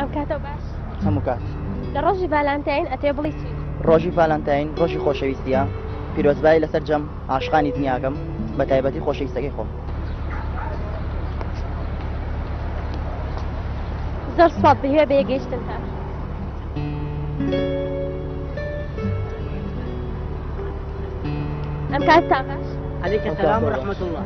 ئەم کاتە باش هەموو کات لە ڕۆژی ڤالانتین ئەتێ بڵی چی ڕۆژی ڤالانتین ڕۆژی خۆشەویستیە پیرۆزبایی لەسەر جەم عاشقانی دنیاکەم بە تایبەتی خۆشەویستەکەی خۆم زۆر سوات بهێ بێگەیشتن تا ئەم کات تا باش عليك السلام ورحمة الله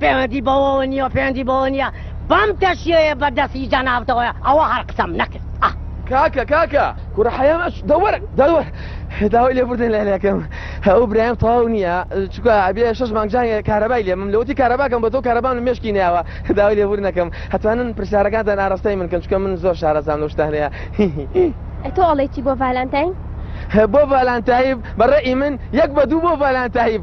پەیوەندی بەوەوە نیە پەیوەندی بەوە نیە بەم تەشیەیە بە دەست ی جەنابتەوەیە ئەوە هەر قسەم نەکرد ئەه. کاکە کاکە کوڕە حەیام ئەچ دە وەرە دە وەرە داوای لێ بوردن لە لەکەم هەوو برایم تەواو نیە چکە ئەبێ شەش مانگ جانگێ کارەبای لێ مم لەوەتی کارەباکەم بە تۆ کارەبان مێشکی ناوە داوای لێ بوردنەکەم هەتوانن پرسیارەکانتان ئاراستەی من کەن چکە من زۆر شارەزام لەو شتانەیە هی هی هی. ئەی تۆ ئەڵێی چی بۆ ڤالانتاین؟ بۆ ڤالانتایب بە ڕەئی من یەک بە دوو بۆ ڤالانتایب.